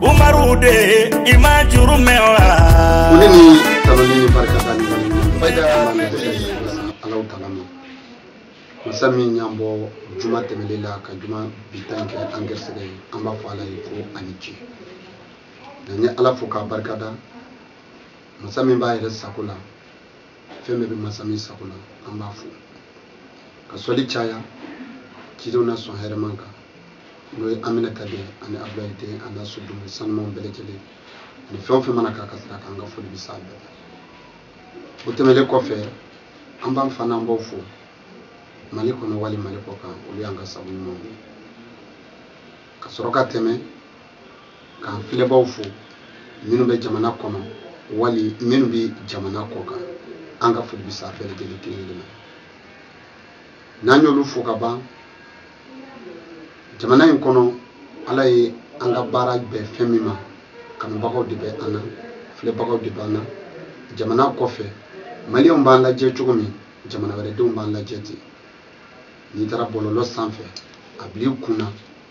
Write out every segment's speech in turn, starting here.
umaru de i ma juru mɛn wa. ko ne ni tanuli ni barika da ni wale ɲuman ba da ala ma dɛsɛ ni ala alahu taala ma masa min y'an bɔ juma tɛmɛlen la ka juma bi ta kɛ an garisɛgɛ ye an b'a fɔ ala ye ko a ni ce nka n ye ala fo k'a barika da masa min b'a yɛrɛ sago la fɛn bɛɛ bɛ masa min sago la an b'a fo ka sɔli caya cidenw na sɔn hɛrɛma kan n'o ye aminata den ani abulayi den ani sodenw sanumanw bɛɛ lajɛlen ani fɛn o fɛn mana k'a ka sira kan an ka foli bɛ s'a bɛɛ o tɛmɛnen kɔfɛ an b'an fa n'an baw fo mali kɔnɔ wali mali kɔ kan olu y'an ka sabu ɲumanw ye ka sɔrɔ ka tɛmɛ k'an filɛbaaw fo minnu bɛ jamana kɔnɔ wali minnu bɛ jamana kɔ kan an ka foli bɛ se a bɛɛ lajɛlen kelen kelen ma n'an y'olu fo ka ban jamana in kɔnɔ ala ye an ka baara bɛn fɛn min ma kanubagaw de bɛ an na filɛbagaw de b'an na jamana kɔfɛ maliyɛnw b'an lajɛ cogo min jamana wɛrɛdenw b'an lajɛ ten n'i taara bɔlɔlɔ sanfɛ a bil'i kun na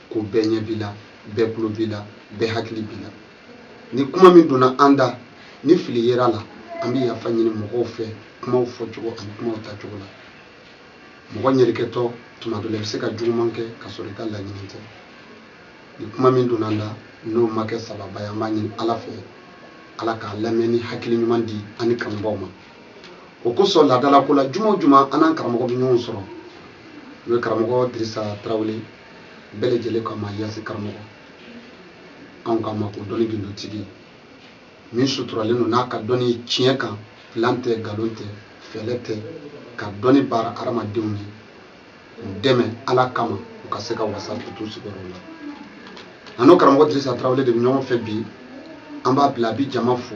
ko bɛɛ ɲɛ b'i la bɛɛ tulo b'i la bɛɛ hakili b'i la ni kuma min donna an da ni fili yer'a la an bɛ yafa ɲini mɔgɔw fɛ kumaw fɔcogo ani kumaw tacogo la mɔgɔ ɲuman kɛtɔ tuma dɔ la i bɛ se ka juguman kɛ ka sɔrɔ i ka laɲini tɛ ni kuma min donna an da n'o ma kɛ sawaba ye an b'a ɲini ala fɛ ala ka lamɛnni hakili ɲuman di an ni kanubaaw ma o kosɔn laadalako la juma o juma an n'an karamɔgɔ bɛ ɲɔgɔn sɔrɔ n'o ye karamɔgɔ dirisa tarawele bɛɛ lajɛlen kama yasi karamɔgɔ anw kama ko dɔnni gindotigi min suturalen don n'a ka dɔnni tiɲɛ kan plan tɛ nkalon tɛ fɛɛlɛ tɛ ka dɔnni baara hadamadenw ye u dɛmɛ ala kama u ka se ka wasa k'u t'u sigiyɔrɔ la an n'o karamɔgɔ dirisa tarawele de bɛ ɲɔgɔn fɛ bi an b'a bila a bi jama fo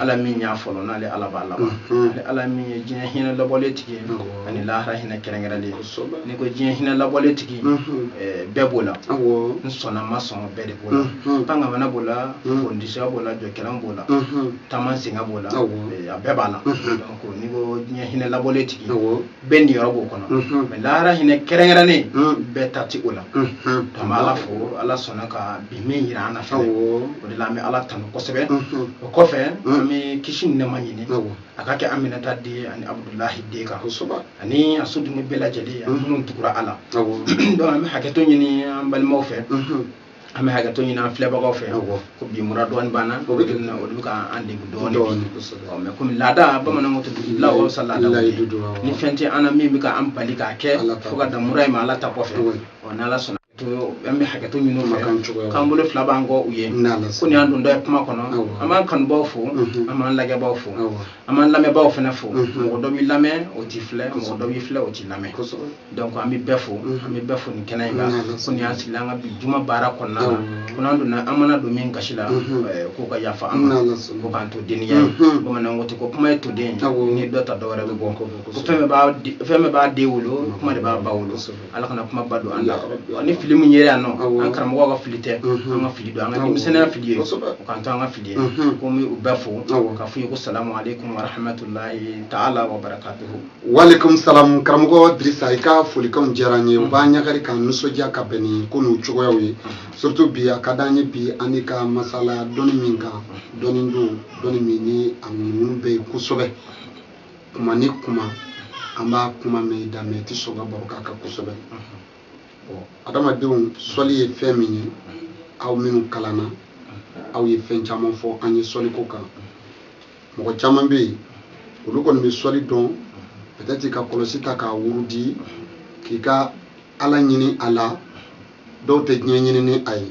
ala min y'a fɔlɔ n'ale ala b'a laban mhm. ale ala min ye diɲɛ hinɛ labɔlen tigi ani lahara hinɛ kɛrɛnkɛrɛnlen n'i ko diɲɛ hinɛ labɔlen tigi mhm. eh, bɛɛ b'o la n sɔnna ma sɔn bɛɛ de b'o la mhm. pan kaman na b'o la fondisiya b'o la jɔkɛlan b'o la taama sen kan b'o la eh, a bɛɛ b'a la n'i ko diɲɛ hinɛ labɔlen tigi bɛɛ niyɔrɔ b'o kɔnɔ mhm. mais lahara hinɛ kɛrɛnkɛrɛnnen mhm. bɛɛ ta tɛ o la an mhm. bɛ ala fo ala sɔnna ka bi min yira an na fɛn o de la an bɛ ala tanu kosɛbɛ o kɔfɛ an bɛ kisi ni nɛɛma ɲini a ka kɛ aminata den ani abudulahi den kan ani a sodenw bɛɛ lajɛlen ani minnu tugura a la donc an bɛ hakɛto ɲini an balimaw fɛ an bɛ hakɛto ɲini an filɛbagaw fɛ ko bi mura dɔɔni b'an na o de bɛ ka an degun dɔɔni mɛ komi laada bamananw tɛ dugu la o sa laada ni fɛn tɛ an na min bɛ ka an bali k'a kɛ fo ka dan mura in ma ala ta kɔfɛ ɔ n'ala sɔnna an bɛ hakɛto ɲini u ma k'an bolo fila b'an kɔ u ye ko nin y'an donda ye kuma kɔnɔ an b'an kanubaaw fo an b'an lajɛbaaw fo an b'an lamɛnbaaw fana fo mɔgɔ dɔ b'i lamɛn o t'i filɛ mɔgɔ dɔ b'i filɛ o t'i lamɛn donc an bɛ bɛɛ fo an bɛ bɛɛ fo nin kɛnɛ in kan ko ni an sigila an ka bi juma baara kɔnɔna la ko n'an donna an mana don min gasi la k'o ka yafa an ma ko k'an to denniya ye bamananw ko ten ko kuma ye toden ye n'i dɔ ta dɔwɛrɛ bɛ kɔ ko fɛn bɛɛ b'a den wolo kuma de b'a ba wolo ala kana kuma ba don an la ni fili min yera yan nɔ an karamɔgɔ ka fili tɛ an ka fili don an ka denmisɛnninya fili ye u k'an to an ka fili ye ko n b'u bɛɛ fo ka f'u ye ko salamu aleykum warahmatulahi taala wa barakatuhu walekum salam karamɔgɔ dirisa i ka folikanw diyara n ye u b'an ɲagari k'an nisɔndiya ka bɛn ni ko n'u cogoyaw ye surtout bi a ka d'an ye bi an n'i ka masala dɔnni min kan dɔnni don dɔnni min ni a ŋunuŋunu bɛ yen kosɛbɛ kuma ni kuma an b'a kuma mɛn i da mɛ i tɛ sɔn ka baro k'a kan kosɛbɛ bɔn adamadenw sɔli ye fɛn min ye aw minnu kalanna aw ye fɛn caman fɔ an ye sɔli ko kan mɔgɔ caman bɛ yen olu kɔni bɛ sɔli dɔn peut-être i ka kɔlɔsi ta k'a wurudi k'i ka ala ɲini a la dɔw tɛ diɲɛ ɲini ni a ye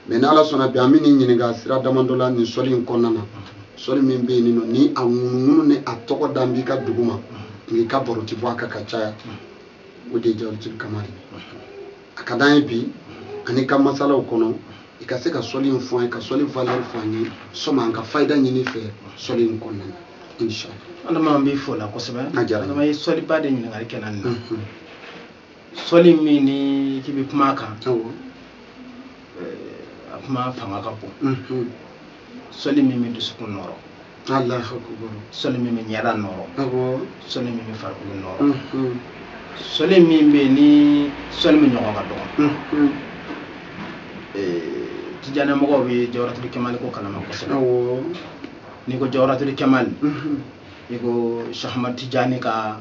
mɛ ni ala sɔnna bi an bɛ n'i ɲininka sira damadɔ la nin sɔli in kɔnɔna na sɔli min bɛ yen nɔ ni a ŋunuŋunu ni a tɔgɔ dan b'i ka dugu ma nk'i ka baro ti bɔ a kan ka caya o de ye jawaratul kamali a ka d'an ye bi an n'i ka masalaw kɔnɔ i ka se ka sɔli in fɔ an ye ka sɔli valɛri fɔ an ye sɔmi an ka fayida ɲini fɛ sɔli in kɔnɔna na inshallah alama an b'i fo la kosɛbɛ a diyara n ye. alama i ye sɔliba de ɲininkali kɛ n na nin na Mhm. sɔli min n'i k'i bɛ kuma a kan a kuma fanga ka bon mhm. sɔli min bɛ dusukun nɔrɔ sɔli min bɛ ɲɛda nɔrɔ sɔli min bɛ farikolo nɔrɔ mhm. sɔli min bɛ yen ni sɔli min ɲɔgɔn ka dɔgɔ mhm. tijani mɔgɔw bɛ jawaratul kemali ko kalama kosɛbɛ n'i ko jawaratul kemali i ko shɛki ahmad tijani ka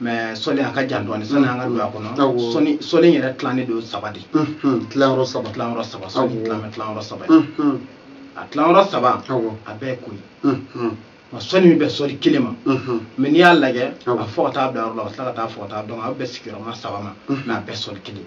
mɛ sɔli a ka jan dɔɔni sani an ka don a kɔnɔ sɔli in yɛrɛ tilannen don saba de tilayɔrɔ saba tilayɔrɔ saba sɔli tilalen tilayɔrɔ saba a tilayɔrɔ saba a bɛɛ kɔni nka sɔli min bɛ sɔli kelen ma mɛ n'i y'a lajɛ a bɛ fɔ ka taa bila yɔrɔ la a bɛ tila ka taa fɔ ka taa dɔn a bɛ bɛn sigiyɔrɔma saba ma mɛ a bɛɛ sɔli kelen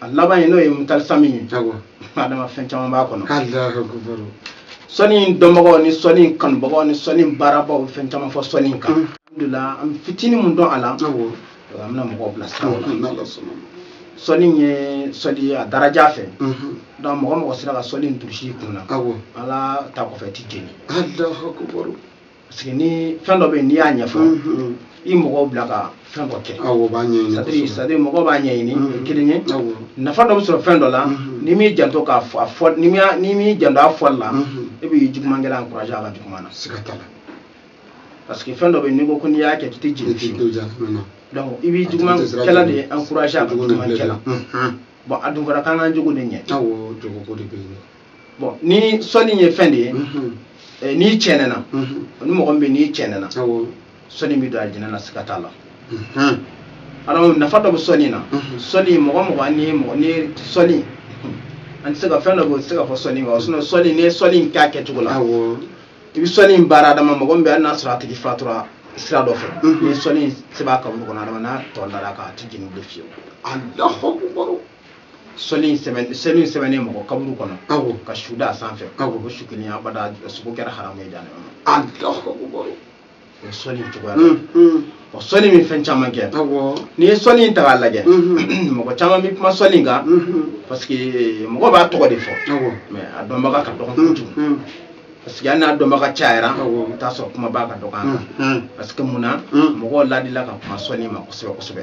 a laban ye n'o ye mutalisami ye adama fɛn caman b'a kɔnɔ sɔli dɔnbagaw ni sɔli kanubagaw ni sɔli baarabaaw fɛn caman fɔ sɔli kan mm. alhamdulila an fitini mun dɔn a la an bɛna mɔgɔw bila sira la sɔli ye sɔli ye a daraja fɛ mm-hmm. donc mɔgɔ o mɔgɔ sera ka sɔli in durusi kun na ala ta kɔfɛ t'i jeni parce que ni fɛn dɔ bɛ yen n'i y'a ɲɛfɔ mm-hmm. i mɔgɔw bila ka fɛn dɔ kɛ awɔ b'a ɲɛɲini c'est-à-dire c'est-à-dire mɔgɔw b'a ɲɛɲini o ye kelen ye nafa dɔ bɛ sɔrɔ fɛn dɔ la mm-hmm. n'i m'i janto k'a fɔ a fɔ n'i m'i n'i m'i janto a fɔli la e bɛ juguman kɛla encourager a ka juguman na siga t'a la parce que fɛn dɔ bɛ yen n'i ko ko n'i y'a kɛ k'i tɛ jeni fiyewu donc i bɛ juguman kɛla de encourager a ka juguman kɛla. bɔn a dun fɔra k'an k'an jogo de ɲɛ awɔ jogo ko de bɛ yen bɔn ni sɔli ye fɛn de ye eh, n'i cɛ ɲɛna ni mɔgɔ min bɛ n'i cɛ ɲɛna sɔli b'i don alijɛnɛ na siga t'a la alors nafa dɔ bɛ sɔli na sɔli mɔgɔ mɔgɔ ni mɔgɔ ni sɔli an tɛ se ka fɛn dɔ bɛ se ka fɔ sɔli ma sinon sɔli n'i ye sɔli k'a kɛcogo la i bɛ sɔli in baara adama mɔgɔ min bɛ hali n'a sɔrɔ a tigi fatura sira dɔ fɛ ni sɔli in sɛbɛn a kaburu kɔnɔ adama n'a tɔ dara a kan a tɛ jeni bilen fiyewu sɔli in sɛbɛn sɛbɛn in sɛbɛnnen mɔgɔ kaburu kɔnɔ ka su d'a sanfɛ o su kelen abada sogo kɛra haramu ye dan o sɔli cogoya o sɔli bɛ fɛn caman kɛ n'i ye sɔli in ta k'a lajɛ mɔgɔ caman bɛ kuma sɔli kan parce que mɔgɔ b'a tɔgɔ de fɔ mais a dɔnbaga ka dɔgɔn kojugu parce que hali n'a dɔnbaga cayara i bɛ t'a sɔrɔ kumabaa ka dɔgɔn a kan parce que mun na mɔgɔw ladila ka kuma sɔli ma kosɛbɛ kosɛbɛ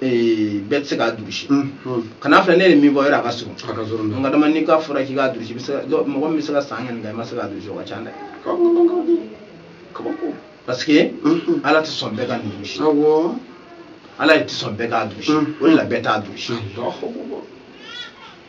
bɛɛ tɛ se k'a durusi kan'a filɛ ne ye min fɔ yɔrɔ a ka surun nka adama n'i ka fɔra k'i k'a durusi mɔgɔ min bɛ se ka san kɛmɛ kɛ i ma se k'a durusi o ka ca dɛ parce que ala tɛ sɔn bɛɛ ka nin durusi ala tɛ sɔn bɛɛ k'a durusi o de la bɛɛ t'a durusi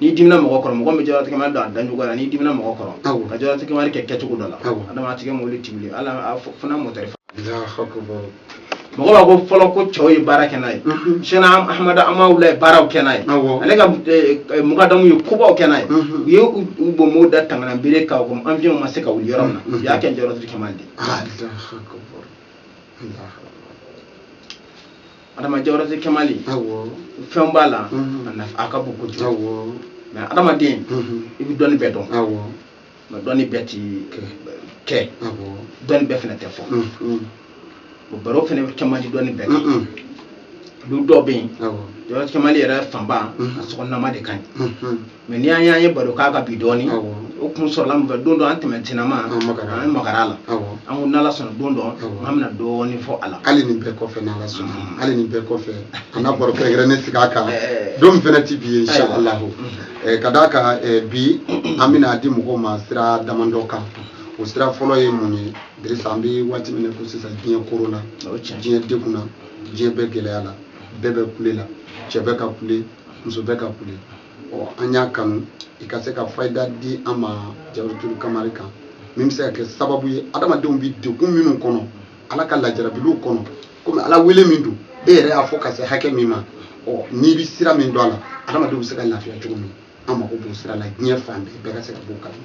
n'i dimina mɔgɔ kɔrɔ mɔgɔ bɛ jawarati kɛmali dɔn a dɔncogo la n'i dimina mɔgɔ kɔrɔ ka jawarati kɛmali kɛ kɛcogo dɔ la adama a tigi mobili ti wuli ala fana mɔtɛri mɔgɔ b'a ko fɔlɔ ko cɛw ye baara kɛ n'a ye seyidina ahamadu amawula ye baaraw kɛ n'a ye ale ka mukadamuw ye kobaw kɛ n'a ye u ye u bɔnbɔw da tangana bere kan ko avion ma se ka wuli yɔrɔ min na u y'a kɛ jawarati kɛmali de adama jawarati kɛmali fɛn b'a la a ka bon kojugu mais adamaden i bɛ dɔnni bɛɛ dɔn mais dɔnni bɛɛ ti kɛ dɔnni bɛɛ fana tɛ fɔ o baro fana bɛ kɛmali dɔnni bɛɛ kan du dɔ bɛ yen jawarati kɛmali yɛrɛ fanba a sɔgɔnama de ka ɲi mɛ n'i y'a ye an ye baro k'a kan bi dɔɔni o kun sɔrɔla mun fɛ don dɔ an tɛmɛ tinama an ye magara la an ko n'ala sɔnna don dɔ an bɛna dɔɔni fɔ a la hali nin bɛɛ kɔfɛ n'ala sɔnna mm. hali nin bɛɛ kɔfɛ an ka baro kɛrɛnkɛrɛnnen sigi a kan eh. don min fɛnɛ ti bi ye insha allahu mm-hmm. eh, ka d'a kan eh, bi an bɛn'a di mɔgɔw ma sira damadɔ kan o sira fɔlɔ ye mun ye dirisa an bɛ waati min na ko sisan diɲɛ koro la diɲɛ degunna diɲɛ bɛ gɛlɛya la bɛɛ bɛ kule la cɛ bɛ ka kule muso bɛ ka kule ɔ an y'a kanu i ka se ka fayida di an ma jawaratu kamali kan min bɛ se ka kɛ sababu ye adamadenw bɛ degun minnu kɔnɔ ala ka lajarabiliw kɔnɔ komi ala wele min don e yɛrɛ y'a fɔ ka se hakɛ min ma ɔ n'i bɛ sira min dɔn a la adamadenw bɛ se ka lafiya cogo min an mago b'o sira la diɲɛ fan bɛɛ bɛɛ ka se ka b'o kalama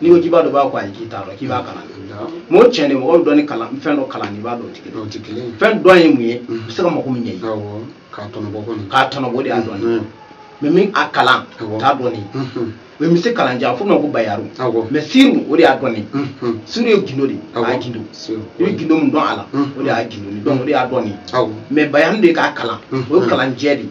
n'i ko k'i b'a dɔn b'a ko ayi k'i t'a dɔn k'i b'a kalan mɛ o tiɲɛ de mɔgɔ bɛ dɔnni kalan fɛn dɔ kalan n'i b'a dɔn o tɛ kelen fɛn dɔn ye mun ye i bɛ se ka mago min ɲɛ ye k'a tɔnɔbɔ kɔni k'a tɔnɔbɔ de y'a dɔn ye mɛ min a kalan t'a dɔn ye mɛ misi kalan jɛ fɔ a ma ko bayanu mɛ siri o de y'a dɔn ye siri ye gindo de ye a y'a gindo i bɛ gindo min dɔn a la o de y'a gindo dɔn o de y'a dɔn ye mɛ bayani de k'a kalan o ye kalan jɛ de ye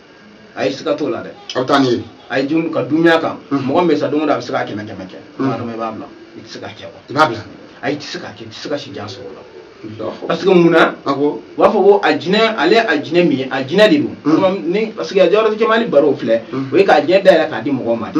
a ye siga t'o la dɛ aw taa ni ye a ye jun ka dunya kan mɔgɔ min sa don o don a bɛ se ka kɛmɛ kɛmɛ kɛ maa dama i b'a bila i tɛ se ka kɛ i b'a bila a i tɛ se ka kɛ i tɛ se ka si jan sɔrɔ o la parce que mun na u b'a fɔ ko a jinɛ ale a jinɛ min ye a jinɛ de don ni parce que a jawaratu kamali baro filɛ o ye k'a jinɛ dayɛlɛ k'a di mɔgɔw ma de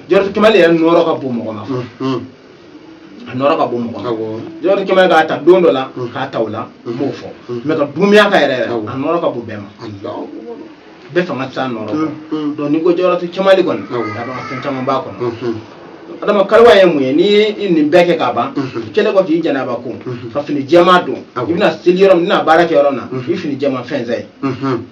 jɔrɔtu kamali yɛrɛ nɔrɔ ka bon mɔgɔ ma a nɔrɔ ka bon mɔgɔ ma jɔrɔtu kamali a ta don dɔ la k'a ta o la n b'o fɔ mɛ ka dunuya kan yɛrɛ yɛrɛ a nɔrɔ ka bon bɛɛ ma bɛɛ fanga tɛ se a nɔrɔ kɔ donc n'i ko jɔrɔtu kamali kɔni a b'a fɛn caman b'a kɔnɔ adama kaluwa ye mun ye n'i ye nin bɛɛ kɛ ka ban kɛlɛ kɔ k'i janaba ko ka fini jɛman don i bɛna seli yɔrɔ min i bɛna baara kɛ yɔrɔ min na i fini jɛman fɛnsɛ yen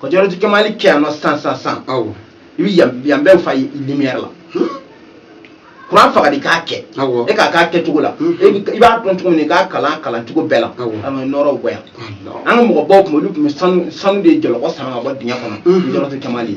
ka jɔrɔti kamali kɛ yan nɔ san san san awɔ i bi yan yan bɛɛ fa lumière la kuran faga de k'a kɛ awɔ e k'a k'a kɛcogo la Mhm. e bi- i b'a dɔn cogo min na i k'a kalan kalancogo bɛɛ la Awɔ. an ka nɔrɔw bɔ yan Allahu. an ka mɔgɔbaw tun bɛ olu tun bɛ sanu sanu de jɔlɔkɔ sama ka bɔ dingɛ kɔnɔ Mhm. jɔrɔti kamali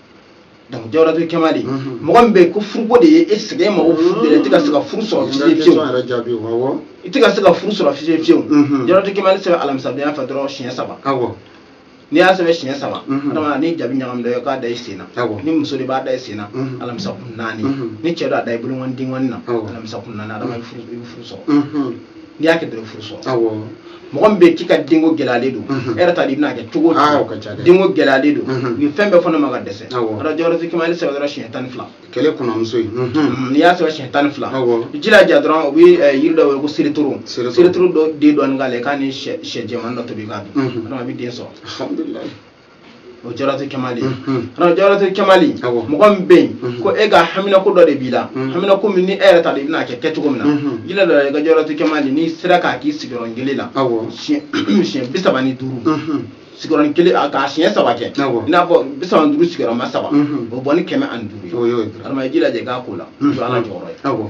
donc jawaratu kamali mɔgɔ min bɛ yen ko furuko de ye e sɛgɛn mago furu de i tɛ ka se ka furu sɔrɔ fiye fiyewu i tɛ ka se ka furu sɔrɔ fiye fiyewu jawaratu kamali sɛbɛn alamisadon fɛ dɔrɔn siɲɛ saba n'i y'a sɛbɛn siɲɛ saba adama ni jabi ɲagami dɔ ye k'a da i sen na ni muso de b'a da i sen na alamisa kun naani ni cɛ don a da i bolo ŋɔni den ŋɔni na alamisa kun naani adama i bɛ furu sɔrɔ n'i y'a kɛ dɔrɔn furu sɔrɔ awɔ mɔgɔ min bɛ yen k'i ka denko gɛlɛyalen don e yɛrɛ t'a dɔn i bɛn'a kɛ cogo aa o ka ca dɛ denko gɛlɛyalen don u ye fɛn bɛɛ fɔ ne ma ka dɛsɛ ara jɔrɔti kamali sɛbɛn dɔrɔn siɲɛ tan ni fila kɛlɛ kɔnɔmuso ye n'i y'a sɛbɛn siɲɛ tan ni fila jilaja dɔrɔn u bɛ yiri dɔ wele ko seretoro seretoro dɔ den dɔɔni k'ale k'a ni sɛ jɛman dɔ tobi k'a dun a bɛ den sɔrɔ o jaratu kɛmali kana jaratu kɛmali mɔgɔ min bɛ yen ko e ka haminako dɔ de b'i la haminako min ni e yɛrɛ t'a dɔn i bɛna kɛ kɛ cogo min na jilaja i ka jaratu kɛmali n'i sera k'a k'i sigiyɔrɔ kelen la siɲɛ bi saba ni duuru sigiyɔrɔ kelen a k'a siɲɛ saba kɛ i n'a fɔ bi saba ni duuru sigiyɔrɔma saba o bɔ ni kɛmɛ ani duuru ye adama i jilaja k'a ko la ala jɔyɔrɔ ye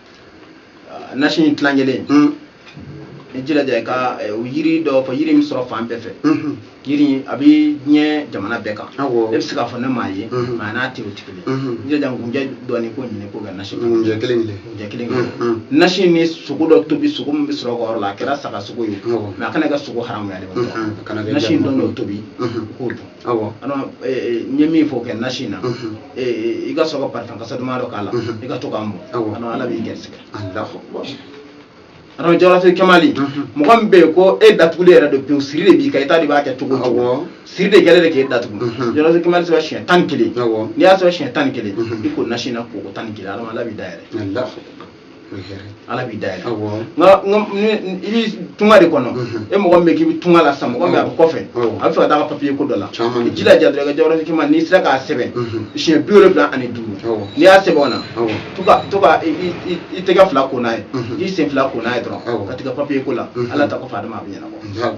ah, nasi in tilan kelen hmm. i jilaja i ka eh, o yiri dɔ fɔ yiri min sɔrɔ fan bɛɛ fɛ hmm. yiri a bɛ diɲɛ jamana bɛɛ kan e bɛ se k'a fɔ ne m'a ye hmm. mɛ a n'a tɛ o tɛ kelen i jilaja nkunjɛ dɔɔni k'o ɲini k'o kɛ nasi nkunjɛ kelen kelen nkunjɛ kelen kelen nasi ni sogo dɔ tobi sogo min bɛ sɔrɔ ka yɔrɔ la a kɛra saga sogo ye mɛ a kana kɛ sogo haramu ye dɛ ma nasi in dɔɔni o tobi k'o dun awɔ adama n ye min fɔ kɛ nasi na mhm. e, i ka sɔrɔ ka parifɛn kasa duman dɔ k'a la mhm. i ka to k'a mun adama ala b'i gɛrisigɛ adama jaratu kɛmali mhm. mɔgɔ min bɛ yen ko e datugulen yɛrɛ don pewu siri de b'i kan i t'a dɔn i b'a kɛ cogo cogo siri de kɛlen de k'e datugu jaratu kɛmali sɛbɛn siɲɛ tan ni kelen n'i y'a sɛbɛn siɲɛ tan ni kelen i ko nasi na koko tan ni kelen adama ala b'i da yɛlɛ ala b'i da yɛlɛ nka i bɛ tunga de kɔnɔ e mɔgɔ min bɛ k'i bɛ tunga la sisan mɔgɔ min a bɛ kɔfɛ a b'a fɛ ka taa ka papiye ko dɔ la i jilaja dɔrɔn i ka jawaratu kɛmali n'i sera k'a sɛbɛn siɲɛ bi wolonwula ani duuru n'i y'a sɛbɛn o na to ka to ka i tɛgɛ fila ko n'a ye i sen fila ko n'a ye dɔrɔn ka taa i ka papiye ko la ala ta kɔfɛ adama a bɛ ɲɛnabɔ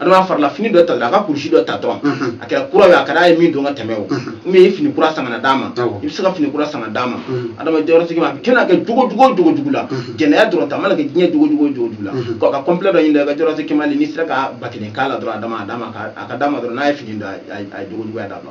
adama farila fini dɔ ta a ka kurusi dɔ ta dɔrɔn a kɛra kura ye a kɛra a ye min don ka tɛmɛ o u ye fini kura san ka na d'a ma i bɛ se ka fini kura san ka d'a ma adama jaratu kɛmali a kɛnɛ kɛ jogo jogo jogo jugu la jɛnɛya dɔrɔgu ta a mana kɛ diɲɛ jogo jogo jogo jugu la ko ka kɔnpilɛ dɔ ɲini dɛ ka jaratu kɛmali n'i sera ka ba kelen k'a la dɔrɔn a d'a ma a d'a ma a ka d'a ma dɔrɔn n'a ye fini don a ye jogo juguya d'a ma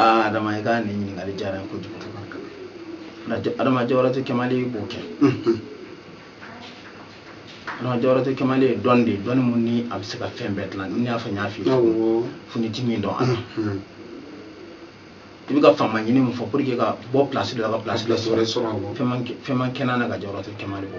aa adama i ka nin ɲininkali diyara n kojugu adama jawaratu kɛmali b'o kɛ adama jawaratu kɛmali ye dɔn de ye dɔnni min ni a bɛ se ka fɛn bɛɛ dilan ni y'a fɔ n y'a f'i ye finitigi don a la i bɛ ka faama ɲini min fɔ pour que ka bɔ pilasi dɔ la ka pilasi dɔ sɔrɔ fɛn man kɛnɛ na ka jawaratu kɛmali bɔ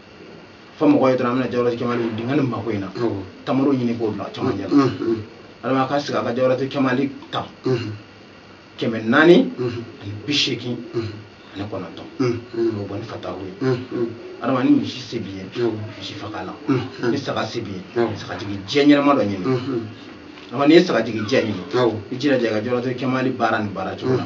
fo mɔgɔ ye dɔrɔn an bɛna jawaratu kɛmali dingɛ ni mako in na tamaro ɲini k'o bila caman ɲɛ adama ka sigi a ka jawaratu kɛmali ta kɛmɛ naani ani bi seegin ani kɔnɔntɔn o bɔ ni fatahu ye adama ni misi se b'i ye misi faga la ni saga se b'i ye sagajigi jɛ ɲɛnama dɔ ɲini adama n'i ye sagajigi jɛ ɲini i jilaja i ka jawaratu kɛmali baara ni baara cogo la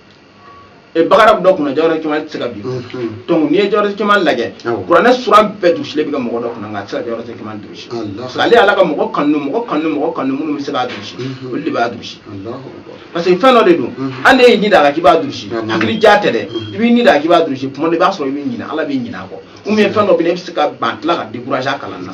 e bakara dɔ kunna jawaratu kɛmali tɛ se ka bi donc n'i ye jawaratu kɛmali lajɛ kuranɛ sura bɛɛ durusilen bɛ kɛ mɔgɔ dɔ kunna nka a tɛ se ka jawaratu kɛmali durusi parce que ale ala ka mɔgɔ kanu mɔgɔ kanu mɔgɔ kanu minnu bɛ se k'a durusi olu de b'a durusi parce que fɛn dɔ de don hali n'i y'i ŋaniya k'i b'a durusi hakili ja tɛ dɛ i b'i ŋaniya k'i b'a durusi tuma dɔ i b'a sɔrɔ i b'i ɲina ala b'i ɲina a kɔ ou bien fɛn dɔ bɛ yen i bɛ se ka ban tila ka décourager a kalan na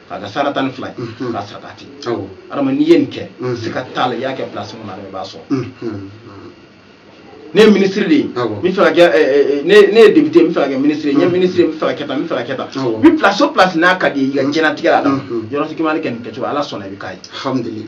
k'a ka sara tan ni fila ye mhm. k'a saraka ten adama n'i ye nin kɛ mhm. siga t'a la i y'a kɛ pilasi min na i b'a sɔrɔ mhm. ne ye minisiri de ye n bɛ fɛ ka kɛ eh, eh, eh, ne ye depite n bɛ fɛ ka kɛ minisiri ye n ye minisiri n bɛ fɛ ka kɛ tan n bɛ fɛ ka kɛ tan ni pilasi o pilasi n'a ka di i ye i ka diɲɛnatigɛ la yɔrɔ tɛ k'i ma ne kɛ nin kɛcogo ala sɔnna i bɛ k'a ye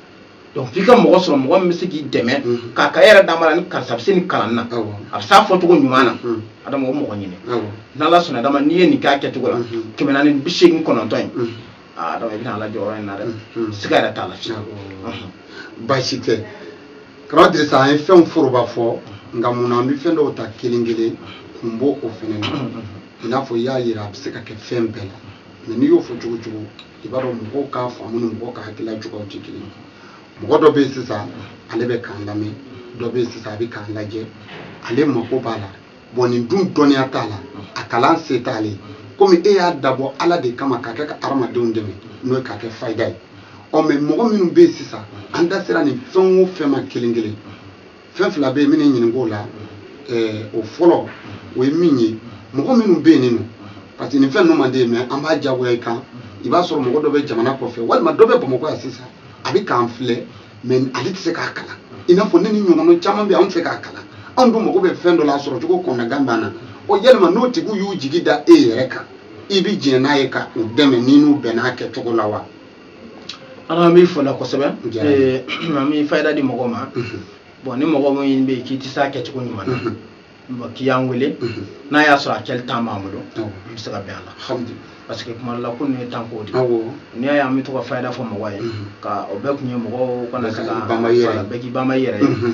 donc f'i ka mɔgɔ sɔrɔ mɔgɔ min bɛ se k'i dɛmɛ k'a ka yɛrɛ d'a ma la ni karisa bɛ se nin kalan na a bɛ s'a fɔcogo ɲuman na adama o mɔgɔ ɲini n'ala sɔnna adama n'i ye nin k'a kɛcogo la kɛmɛ naani bi seegin kɔnɔntɔn in aa donc i bɛna ala jɔ yɔrɔ in na dɛ siga yɛrɛ t'a la fiyewu baasi tɛ kaba dirisa an ye fɛnw foroba fɔ nka mun na an bɛ fɛn dɔw ta kelen kelen kun b'o fɛnɛ na i n'a fɔ i y'a yira a bɛ se ka kɛ fɛn bɛɛ la mɛ n'i y'o fɔ cogo o cogo i b'a dɔn mɔgɔw ka faamu ni mɔgɔw ka hakilila cogoyaw tɛ kelen mɔgɔ dɔ bɛ yen sisan ale bɛ k'an lamɛn dɔ bɛ yen sisan a bɛ k'an lajɛ ale mako b'a la bɔn nin dun dɔnniya t'a la a kalan se t'ale ye komi e y'a dabɔ ala de kama k'a kɛ ka hadamadenw dɛmɛ n'o ye k'a kɛ fayida ye ɔ mɛ mɔgɔ minnu bɛ yen sisan an da sera nin fɛn o fɛn ma kelen kelen fɛn fila bɛ yen n b'i ɲininka o la o fɔlɔ o ye min ye mɔgɔ minnu bɛ yen nin nɔ parce que nin fɛn ninnu man d'i ye mɛ an b'a jagoya i kan i b'a sɔrɔ mɔgɔ dɔ bɛ jamana kɔfɛ walima dɔ bɛ bamakɔ yan sisan a bɛ k'an filɛ mɛ ale tɛ se k'a kalan i n'a fɔ ne ni n ɲɔgɔnna caman bɛ yen anw tɛ se k'a kalan anw dun mago bɛ fɛn dɔ la a sɔrɔ cogo kɔnɔnagan b'an na o yalima n'o tigiw y'u jigi da e yɛrɛ kan i bɛ jɛn n'a ye ka u dɛmɛ ni n'u bɛnna a kɛcogo la wa an b'i fo o la kosɛbɛ eh, an bɛ fayida di mɔgɔw ma mhm. bɔn ni mɔgɔ min bɛ yen k'i tɛ se a kɛcogo ɲuman na mhm. bɔn k'i y'an wele mhm. n'a y'a sɔrɔ a kɛli tan b'an bolo an bɛ se ka bɛn a la parce que kuma dɔ la ko ninnu ye tanko de ye n'i y'a ye an bɛ to ka fayida fɔ mɔgɔ ye ka o bɛɛ kun ye mɔgɔw kana se ka bɛɛ k'i banba i yɛrɛ ye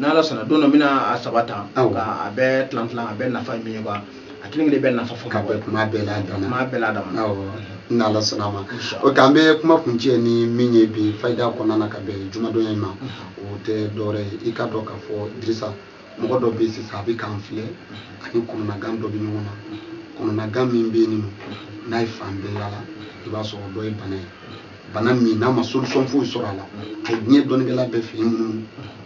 n'ala sɔnna don dɔ n bɛna a saba ta ka a bɛɛ tilan tilan a bɛɛ nafa ye min ye quoi a kelen kelen bɛɛ nafa fɔ ka bɔ kuma bɛɛ la dama kuma bɛɛ la dama n'ala sɔnna a ma oke an bɛ kuma kuncɛ ni min ye bi fayida kɔnɔna na ka bɛn jumadonya in ma o tɛ dɔwɛrɛ ye i k'a dɔn k'a fɔ dirisa mɔgɔ dɔ bɛ yen sisan a bɛ k'an filɛ ani kɔnɔnagan dɔ bɛ ɲɔgɔn na kɔnɔnagan min bɛ yen nɔ n'a ye fan bɛɛ yala i b'a sɔrɔ dɔ ye bana ye bana min n'a ma solution foyi sɔrɔ a la a ye diɲɛ dɔnnikɛla bɛɛ fɛ yen minnu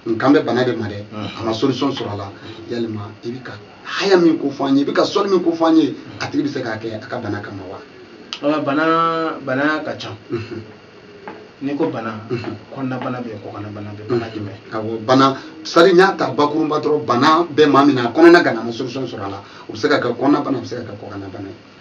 ne kan bɛ bana de ma dɛ a ma solution sɔrɔ a la yalima i bɛ ka haya min ko fɔ an ye i bɛ ka sɔli min ko fɔ an ye a tigi bɛ se k'a kɛ a ka bana kama wa. Ah, bana bana ka ca. n'i ko bana mhm. kɔnɔnabana bɛ yen kɔkannabana bɛ bana mhm. jumɛn awɔ bana sari n y'a ta bakuruba dɔrɔn bana bɛ maa min na a kɔnɔna ganna a ma solution sɔrɔ a la o bɛ se ka kɛ kɔnɔnabana a bɛ se ka kɛ kɔkannabana ye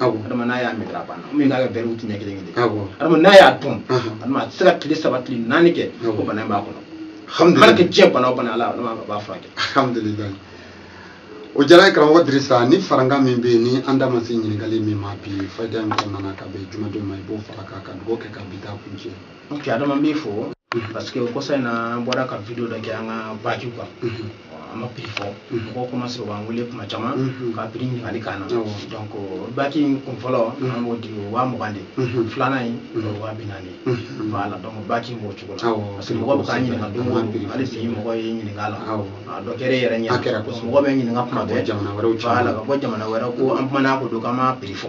adama n'a y'a mɛtɛrɛ a bɛna min k'a kɛ wɛri te ɲɛ kelen kelen adama n'a y'a dɔn adama a tɛ se ka tile saba tile naani kɛ ko bana in b'a kɔnɔ mana kɛ diɲɛ bana o bana ala adama b'a furakɛ alhamdulilayi o diyara an ye karamɔgɔ dirisa ni farankan min bɛ yen ni an da ma se ɲininkali min ma bi fayida in kɔnɔna na ka bɛn jumadon ma i b'o fara kan ka dugawu kɛ ka bi ta kuncɛ n kɛ adama n b'i fo mhm. parce que o kɔsa in na an bɔra ka video dɔ kɛ an ka bague kan mhm. an ma prix fɔ mhm. mɔgɔw commencé k'an wele kuma caman ka prix ɲininkali k'an na donc bague in kun fɔlɔ an b'o di o waa mugan de filanan in o waa bi naani voilà donc bague in b'o cogo la parce que mɔgɔ bɛ k'an ɲininka don o don hali bi mɔgɔ ye ɲininka la a dɔ kɛra e yɛrɛ ɲɛ mɔgɔ bɛ ɲininka kuma bɛɛ voilà ka bɔ jamana wɛrɛ ko an kumana ko dɔ kan an m'a prix fɔ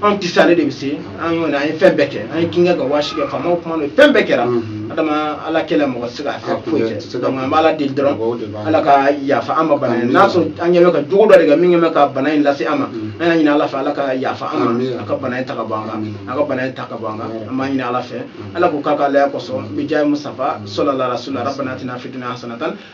anw tɛ se ale de bɛ se an y'o an ye fɛn bɛɛ kɛ an ye kinkɛ ka waasi kɛ faamaw kuma don fɛn bɛɛ kɛra mhm. adama ala kelen mɔgɔ tɛ se ka fɛn foyi kɛ donc an bɛ ala deli dɔrɔn ala ka yafa an ma bana in n'a sɔrɔ an yɛrɛ bɛ ka jogo dɔ de kɛ min yɛrɛ bɛ ka bana in lase an ma mhm. an y'a ɲini ala fɛ ala ka yafa an ma a ka bana in ta ka bɔ an kan a ka bana in ta ka bɔ an kan an b'a ɲini ala fɛ mhm. ala k'o k'a ka alaya kosɔn bijahi musitafa sɔlala rasulila rabbana atina fi dunya hasanatan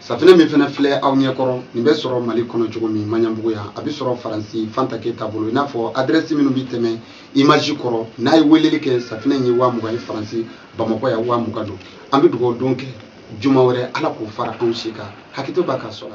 safinɛ min fana filɛ aw ɲɛ kɔrɔ nin bɛ sɔrɔ mali kɔnɔ cogo min maɲanbugu yan a bɛ sɔrɔ faransi fanta keyita bolo i n'a fɔ adrɛsi minnu bɛ tɛmɛ imaji kɔrɔ n'a ye weleli kɛ safinɛ in ye waa mugan ye faransi bamakɔ yan waa mugan don an bɛ dugawu don kɛ juma wɛrɛ ala k'o fara anw si kan hakɛto b'aw kan sala